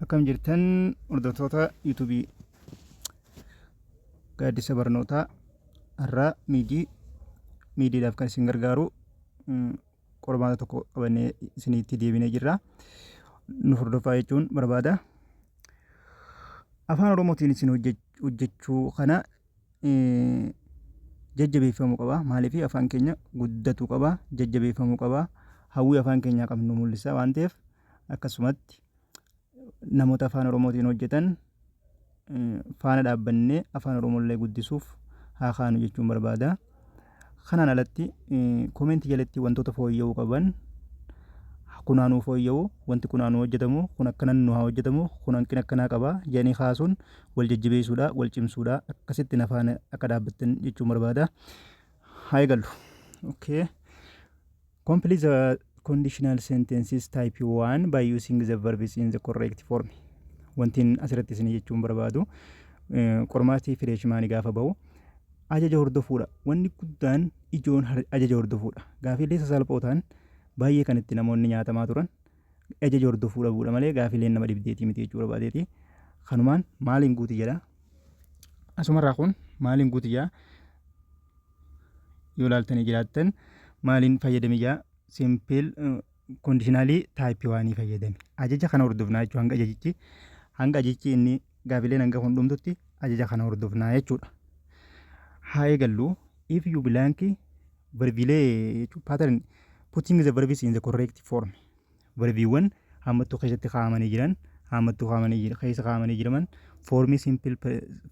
Akkam jirtan hordoftoota yuutuubii gaaddisa barnootaa har'aa miidii miidiidhaaf kan isin gargaaru mm, qormaata tokko qabannee isinitti deebinee jirra. Nu hordofaa jechuun barbaada. Afaan Oromootiin isin hojjech- hojjechuu kana eh, jajjabeeffamuu qaba. Maaliif afaan keenya guddatuu qaba, jajjabeeffamuu qaba. Hawwii afaan keenyaa qabnu mul'isa waan ta'eef akkasumatti namoota afaan oromootiin hojjetan faana dhaabbannee afaan oromollee guddisuuf haa kaanu jechuun barbaada. Kanaan alatti koomeentii jalatti wantoota fooyya'uu qaban kunaanuu fooyya'u wanti kunaanuu hojjetamu kun akkana nu haa hojjetamu kun hanqina akkanaa qaba jedhanii kaasuun wal jajjabeessuudha wal cimsuudha akkasitti nafaan akka dhaabbattan jechuun barbaada. Haa eegallu. Okay. Complete the conditional sentences type 1 by using the verbs in the correct form. Wantiin asirratti isin jechuun barbaadu qormaati fireeshmaanii gaafa bahu ajaja hordofuudha. Wanni guddaan ijoon ajaja hordofuudha. Gaafiilee sasalphoo ta'an baay'ee kan itti namoonni nyaatamaa turan ajaja hordofuu dhabuudha malee gaafiileen nama dhibdeetii miti jechuu barbaadeeti. Kanumaan maaliin guuti jedha. Asumarraa kun maaliin guuti jedha. yoo laaltanii jiraattan maaliin fayyadame jaa simple conditionalii type waanii fayyadame ajaja kana hordofnaa jechuudha hanga ajajichi hanga ajajichi inni gaafileen hanga kun dhumtutti ajaja kana hordofnaa jechuudha haa eegallu if you blank verbilee jechuun pattern putting the verbs in the correct form Varbiiwwan haammattuu keessatti kaa'amanii jiran haammattuu kaa'amanii jira keessa kaa'amanii jiraman foormii simpil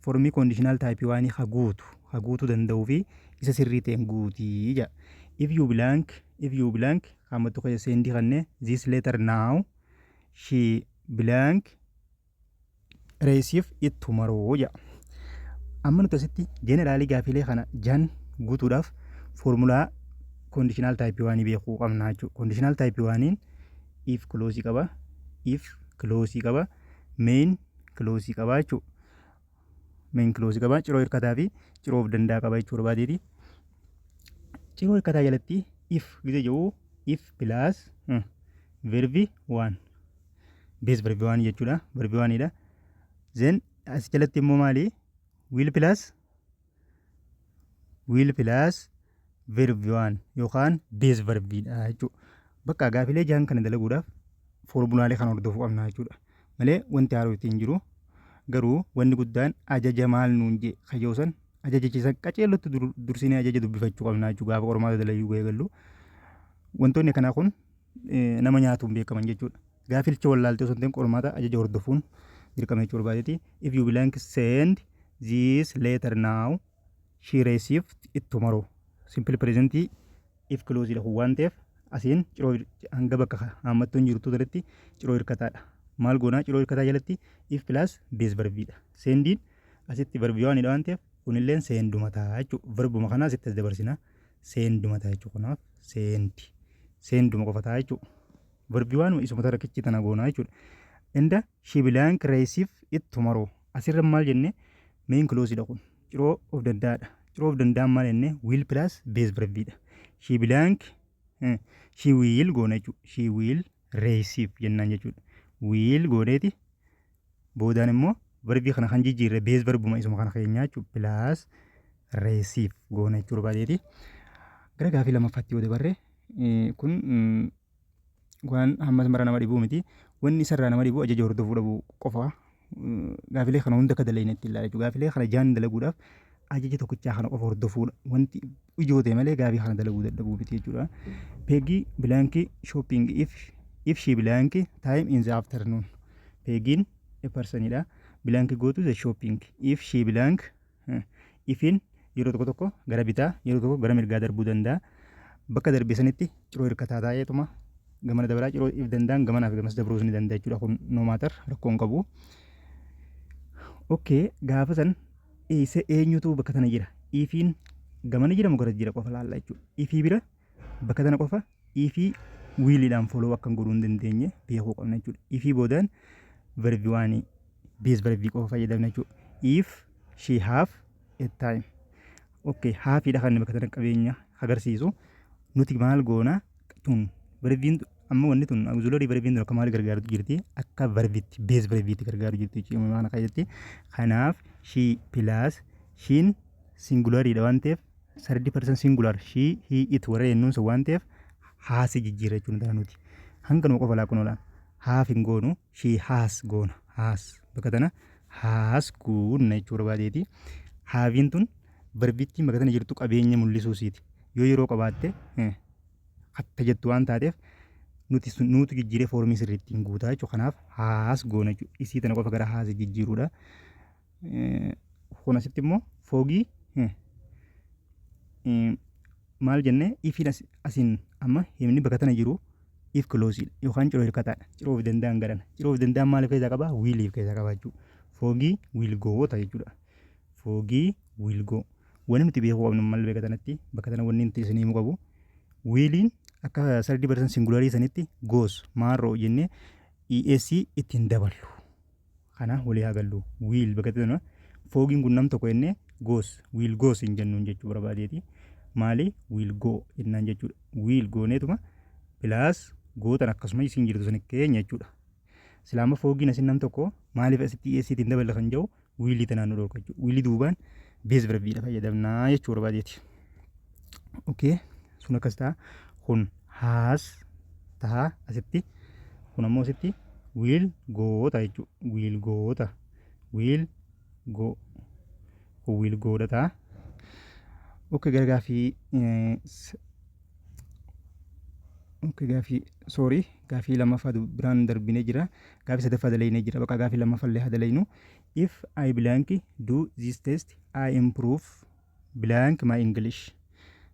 foormii koondishinaal taayipii waanii ha guutu ha guutuu danda'uu fi isa sirrii ta'een guutii jedha. If you blank if you blank haammattuu keessa seendii kannee this letter now she blank reesiif ittu maroo jedha. Amma nuti asitti jeeneraalii gaafiilee kana jan guutuudhaaf foormulaa koondishinaal taayipii waanii beekuu qabna jechuudha. Koondishinaal taayipii waaniin if kiloosii qaba, if kiloosii qaba, meen kiloosii qaba jechuudha. Meen kiloosii qaba, ciroo hirkataa fi ciroo of danda'a qaba jechuudha baateeti. Ciroo hirkataa jalatti if gizee jedhu if pilaas verbi waan. bees verbi waan jechuudha verbi waanidha zen as jalatti immoo maali wiil pilaas wiil pilaas verbi waan yookaan bees verbiidha jechuudha bakka gaafilee jahan kana dalaguudhaaf foormulaalee kan hordofu qabna jechuudha malee wanti haaroo ittiin jiru garuu wanni guddaan ajaja maal nuun jee kayyoosan ajajichisa qaceellotti dursinee ajaja dubbifachuu qabna jechuudha gaafa qormaata dalayyuu eegallu wantoonni kanaa kun nama nyaatuun beekaman jechuudha. Gaafilcha wallaaltee osoo hin ta'in qormaata ajaja hordofuun dirqama jechuu barbaadeeti. If you blank send this letter now she received it tomorrow. Simple present if close dha kun waan ta'eef asiin ciroo hanga bakka haammattuu hin jirtu irratti ciroo hirkataadha. Maal goonaa ciroo hirkataa jalatti if plus bees barbiidha. Seendiin asitti barbii waan hidha waan ta'eef kunilleen seenduma ta'a jechuudha. Verbuma kanaa asitti as dabarsina. seenduma ta'a jechuudha kanaaf seendi seenduma qofa ta'a jechuudha verbi waan isuma tarakichi tana goonaa jechuudha inda shibilaan kireesiif ittu maroo asirra maal jenne meen kiloosidha kun ciroo of danda'aadha ciroo of danda'an maal jenne wiil pilaas bees verbiidha shibilaan shii wiil goona jechuudha shii wiil reesiif jennaan jechuudha wiil gooneeti boodaan immoo verbii kana kan jijjiirre bees verbuma isuma kana keenyaa jechuudha pilaas reesiif goona jechuu barbaadeeti. Gara gaafii lammaffaatti yoo dabarre kun waan hammas mara nama dhibuu miti. Wanni isarraa nama dhibuu ajaja hordofuu dhabuu qofa. Gaafilee kana hunda akka dalagnetti ilaala jechuudha. Gaafilee kana jaan dalaguudhaaf ajaja tokkichaa kana qofa hordofuudha. Wanti ijoo ta'e malee gaabii kana dalaguu dadhabuu miti jechuudha. Peegii bilaankii shopping if if she bilaankii time in the afternoon. Peegiin eparsanidha. Bilaankii go to the shopping if she bilaank ifin yeroo tokko tokko gara bitaa yeroo tokko gara mirgaa darbuu danda'a. Bakka darbee sanitti ciroo hirkataa taa'eetuma gamana dabaraa ciroo if danda'an gamanaa fi gamas dabruus ni danda'a jechuudha. Kun no matter rakkoon qabu. Okay gaafa san Eessa eenyutu bakka tana jira? Ifiin gamana jira mugaras jira qofa laalla jechuudha. Ifii bira bakka tana qofa ifii wiiliidhaan foloo akkan godhuu hin dandeenye beekuu qabna jechuudha. Ifii boodaan verbi waanii bees verbi qofa fayyadamna jechuudha. If she have a time. Okay, haafiidha kan bakka tana qabeenya agarsiisu. Nuti maal goona? tun verbiin amma wanni tun auxiliary verbiin tun akka maal gargaartu jirti akka verbitti base verbitti gargaaru jirti jechuudha maana kana jetti kanaaf she plus shin singularii dha waan ta'eef sardi person singular she he it warra jennuun sun waan ta'eef haasi jijjiirra jechuudha nuti hanga nu qofa laakkun oola haaf hin goonu ishii haas goona haas bakka tana haas goonna jechuu barbaadeeti haaviin tun barbittiin bakka tana jirtu qabeenya mul'isuu siiti yoo yeroo qabaatte hatta jettu waan taateef nuti nuutu jijjiiree foormii sirriittiin guutaa jechuudha kanaaf haas goona jechuudha isii tana qofa gara haas jijjiiruudha kun asitti immoo foogii maal jennee ifiin asiin amma himni bakka tana jiru if kilooziidha yookaan ciroo hirkataadha ciroo of danda'an garana ciroo of danda'an maaliif keessaa qabaa wiiliif keessaa qabaa jechuudha foogii wiilgoota jechuudha foogii wiilgoo wanni nuti beekuu qabnu maal beeka tanatti bakka tana wanni nuti isin himuu qabu wiiliin akka sardi barsan singularii sanitti goos maarroo jennee ESC ittiin daballu kanaa walii haa galluu will bakka itti foogiin kun nam tokko jennee goes will goes hin jennuun jechuu barbaadeeti maali will go jennaan jechuudha will gooneetuma pilaas gootan akkasuma isin jirtu san keenya jechuudha silaama foogiin asin nam tokko maaliif asitti dhiyeessiitti hin daballe kan jedhu wiilii tanaan nu dhorka jechuudha wiilii duubaan bees birabbiidha fayyadamnaa jechuu barbaadeeti okay sun akkas ta'a kun haas ta'a asitti kun ammoo asitti wiil goota jechuudha wiil goota wiil go kun wiil goodha ta'a ok gara gaafii eh, s- ok gaafii sorry gaafii lammaffaa du- biraan darbinee jira gaafii sadaffaa dalaynee jira bakka gaafii lammaffaa illee haa dalaynu if I blank do this test I improve blank my English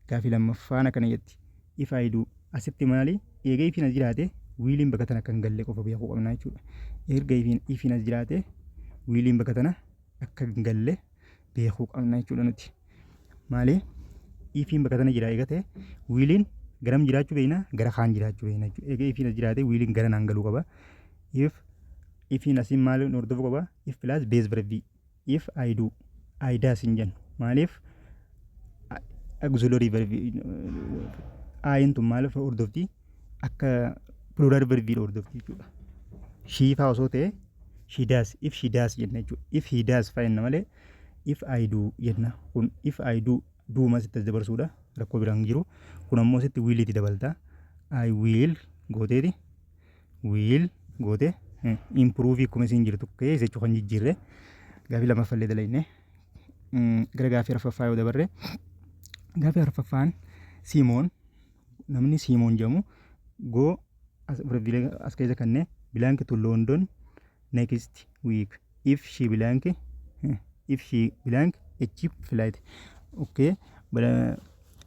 gaafii lammaffaan akkana jetti if I do asitti maali eega ifiin as jiraate wiiliin bakka tana kan galle qofa beekuu qabna jechuudha erga ifiin ifiin as jiraate wiiliin bakka tana akka hin galle beekuu qabna jechuudha nuti maali ifiin bakka tana jira eega ta'e wiiliin garam jiraachuu beekna gara kaan jiraachuu beekna jechuudha eega ifiin as jiraate wiiliin gara naan galuu qaba if ifiin asiin maali hordofuu qaba if pilaas beez barbii if I do I does hin jennu maaliif auxiliary verb ayin tun maaliif hordofti akka plural verb hordofti jechuudha shii faa osoo ta'e she does if she does jenna jechuudha if he does faa jenna malee if I do jenna kun if I do do mas itti as dabarsuudha rakkoo biraan hin jiru kun ammoo asitti will itti dabalta I will gooteeti will goote improve akkuma isiin jirtu kee jechu kan jijjiirre gaafii lammaffaa illee dalayne gara gaafii arfaffaa yoo dabarre gaafii arfaffaan siimoon namni siimoon jedhamu go as keessa kanne bilaanki tu loondon next week if she blank if she blank a cheap flight okay bara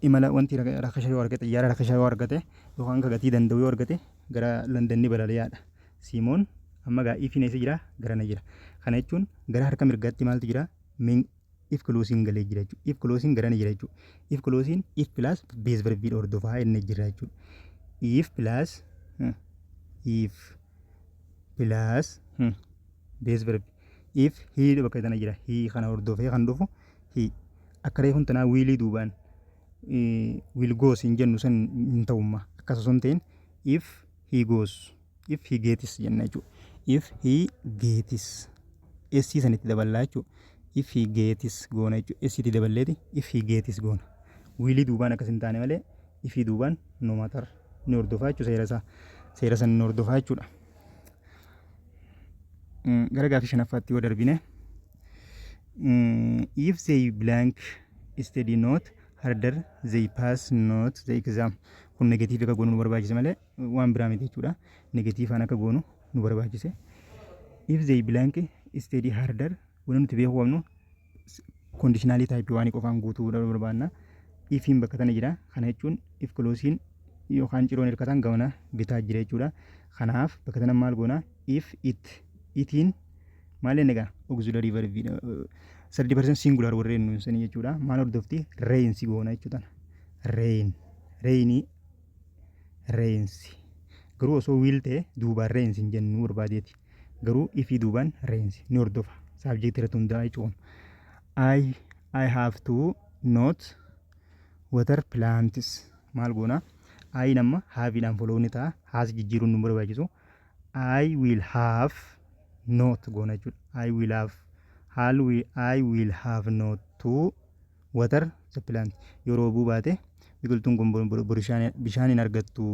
imala wanti rakasha yoo argate xiyyaara rakasha yoo argate yookaan ka gatii danda'u yoo argate gara London ni balali'aadha Simoon amma gaa ifiin eessa jira garana jira kana jechuun gara harka mirgaatti maaltu jira if closing galee jira jechuudha. If closing garana jira jechuudha. If closing if plus base verb dha hordofaa inni jira jechuudha. If plus hmm, if plus hmm, base verb if he dha bakka tana jira. He kana hordofee kan dhufu he akka reefun tanaa wiilii duubaan eh, will goes hin jennu san hin ta'umma. Akkas osoo hin ta'in if he goes if he gets jenna jechuudha. If he gets essii sanitti daballaa jechuudha. If he gets goona jechuudha. Essiitti daballeeti if he gets goona. Wiilii duubaan akkas hin taane malee ifii duubaan no matter ni hordofaa jechuudha seera isaa. Seera san ni hordofaa jechuudha. Mm, Gara gaafii shanaffaatti yoo darbine mm, if they blank study not harder they pass not the exam kun negatiivii akka goonu nu barbaachisa malee waan biraa miti jechuudha negatiivaan akka goonu nu barbaachise if they blank steady harder wanni nuti beekuu qabnu kondiishinaalii taayipii waanii qofaan guutuu barbaadna ifiin bakka tana jira kana jechuun if kiloosiin yookaan ciroon hirkataan gamana bitaa jira jechuudha kanaaf bakka tana maal goona if it itiin maal inni egaa auxiliary verb sadii percent singular warreen nuun sanii jechuudha maal hordofti rain si goona jechuudha rain rainii reensi garuu osoo wiil ta'e duubaan reensi hin jennuu barbaadeeti garuu ifii duubaan reensi ni hordofa saabjektii irratti hundaa'ee cuun I, I have to not water plants maal goona I nama haaviidhaan follow ni ta'a haas jijjiiruun nu barbaachisu I will have not goona jechuudha I will have haal I will have not to water the plant yoo roobuu baate biqiltuun kun bo- bo- bishaan bishaan hin argattu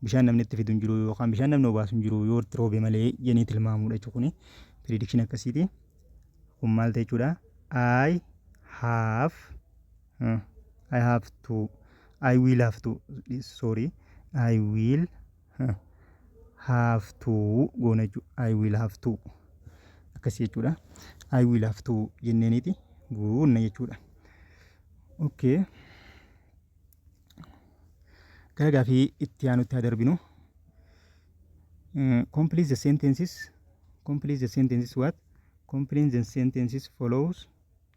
bishaan namni itti fidu hin jiru yookaan bishaan namni obaasu hin jiru yoo itti roobe malee jennee tilmaamuudha jechuudha kuni prediction akkasiiti kun maal ta'e jechuudha I have uh, I have to I will have to sorry I will have to goona jechuudha. I will have to akkasii jechuudha. I will have to jenneeniiti guunna jechuudha. Okay. Gara gaafii itti aanutti haa darbinu. Mm, Complete the sentences. Complete the sentences what? Complete the sentences follows.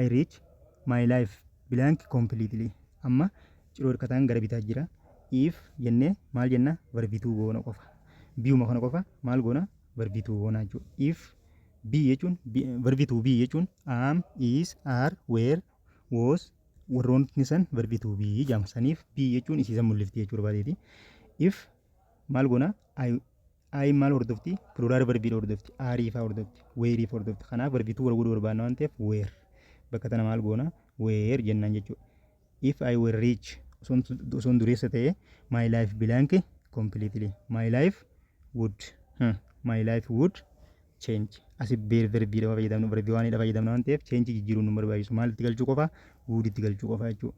I reach my life blank completely amma ciroo hirkataan gara bitaa jira if jennee maal jenna varbituu goona qofa biyuma kana qofa maal goona varbituu goona jechuudha if b jechuun varbituu b jechuun am is are were was warroonni san varbituu b jedhama saniif b jechuun isiisan mul'ifti jechuudha baateeti if maal goona Ayiin maal hordofti? Pluraal varbiidha hordofti. Aarii faa hordofti. Weerii faa hordofti. Kanaaf varbiituu wal godhuu barbaanna waan ta'eef weer. Bakka tana maal goona? Weer jennaan jechuudha. If I were rich osoon osoon dureessa ta'e my life blank completely. My life would. Hmm. My life would change asi beer verbii dha fayyadamnu verbii waan dha fayyadamna waan ta'eef change jijjiiruun nu barbaachisu maal itti galchuu qofa would itti galchuu qofa jechuudha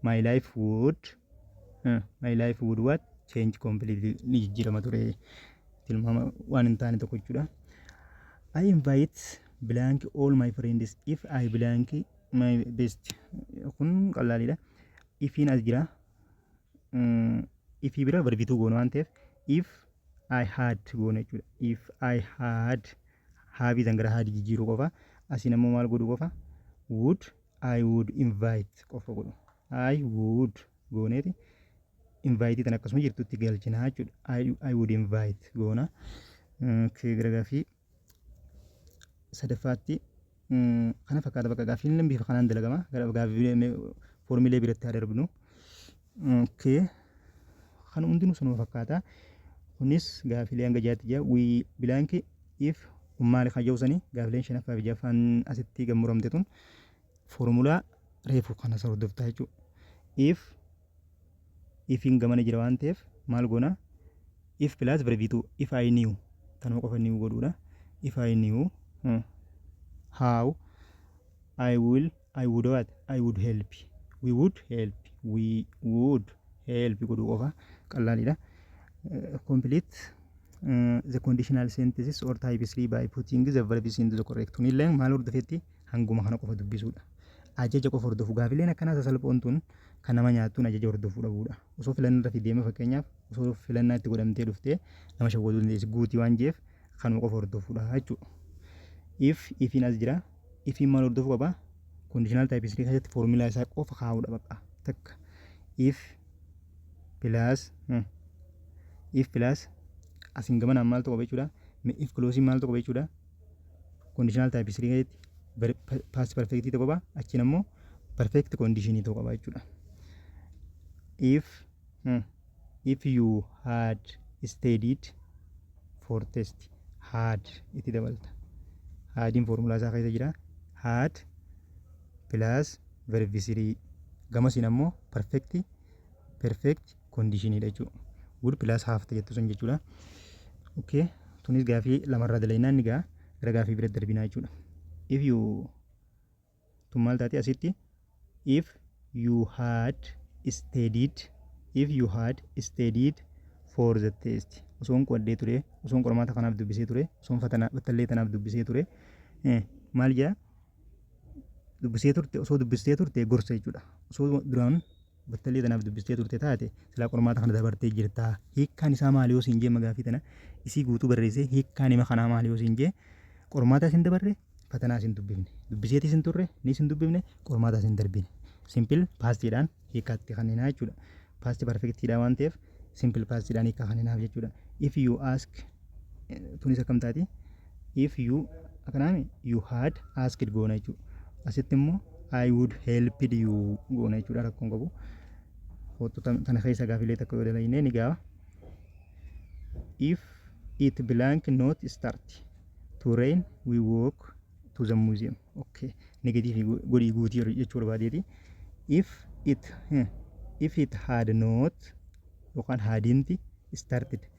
my life would uh, my life would what change completely ni jijjiirama ture tilmaama waan hin taane tokko jechuudha I invite blank all my friends if I blank my best kun qallaaliidha ifiin as jira if bira barbituu goonu waan ta'eef if I had goona jechuudha. If I had haabii san gara haadii jijjiiruu qofa. Asiin ammoo maal godhu qofa? Would I would invite qofa godhu. I would gooneeti. Invite tan akkasuma jirtutti galchina jechuudha. I, I would invite goona. Okay, gara gaafii sadaffaatti kana fakkaata bakka gaaffiin illee bifa kanaan dalagama gara gaaffiilee foormiilee biratti haa darbinu. Okay. Kan hundinuu sanuma fakkaata. Kunis gaaffiilee hanga jaatti jira. We blank if maali kan jedhu sanii gaaffiileen shanaffaa fi jaffaan asitti gammuramte tun foormulaa reefu kana hordoftaa jechuudha. If ifin gamana jira waan ta'eef maal goona if plus verbitu if i new tanuma qofa new godhuudha if i new hmm, how i will i would what i would help we would help we would help godhuu qofa qallaaliidha Eh, complete eh, the conditional sentences or types by putting the verbs into the correct tuniillee maal hordofetti hanguma kana qofa dubbisuudha. Ajaja qofa hordofu gaafileen akkanaa sasalphoon tun kan nama nyaattuun ajaja hordofuu dhabuudha. Osoo filannaa irratti deemee fakkeenyaaf osoo filannaa itti godhamtee dhuftee nama shawwaduu dandeessi guutii waan jeef kanuma qofa hordofuudha jechuudha. If ifiin as jira ifiin maal hordofuu qaba? Conditional type isrii keessatti foormulaa isaa qofa kaa'uudha baqa takka if plus hmm, if plus asiin gamanaan maaltu qaba jechuudha. If closing maaltu qaba jechuudha. Conditional type 3 keessatti past perfect ta'uu qaba. Achiin ammoo perfect condition ta'uu qaba jechuudha. If hmm, if you had studied for test had itti dabalta. Haadiin foormulaa isaa keessa jira. Had plus verb 3 gamasiin ammoo perfect perfect condition dha jechuudha. Would plus half ta jettu sun jechuudha. Okay. Tunis gaafii lamarraa dalaynaan ni ga'a. Gara gaafii bira darbinaa jechuudha. If you tun maal taate asitti if you had studied if you had studied for the test osoon qo'adhee ture osoon qormaata kanaaf dubbisee ture osoon fatanaa battallee tanaaf dubbisee ture eh, maal jaa dubbisee turte osoo dubbistee turte gorsa jechuudha osoo duraan battallee tanaaf dubbistee turte taate silaa qormaata kana dabartee jirta hiikkaan isaa maali yoo siin jee magaafii tana isii guutuu barreessee hiikkaan hima kanaa maali yoo siin jee qormaataa siin dabarre fatanaa siin dubbifne dubbiseetii siin turre ni siin dubbifne qormaataa siin darbine simpil paastiidhaan hiikkaatti kanninaa jechuudha paasti parfektiidhaa waan ta'eef simpil paastiidhaan hiikkaa kanninaaf jechuudha if you ask tunis akkam taati if you akkanaami you had asked goona jechuudha asitti immoo I would helped you goona jechuudha rakkoon qabu hoottu tana keessa gaafilee takka yoo dalagnee ni gaafa if it blank not start to rain we walk to the museum okay negative godhii guutii jechuu barbaadeeti if it if it had not yookaan haadinti started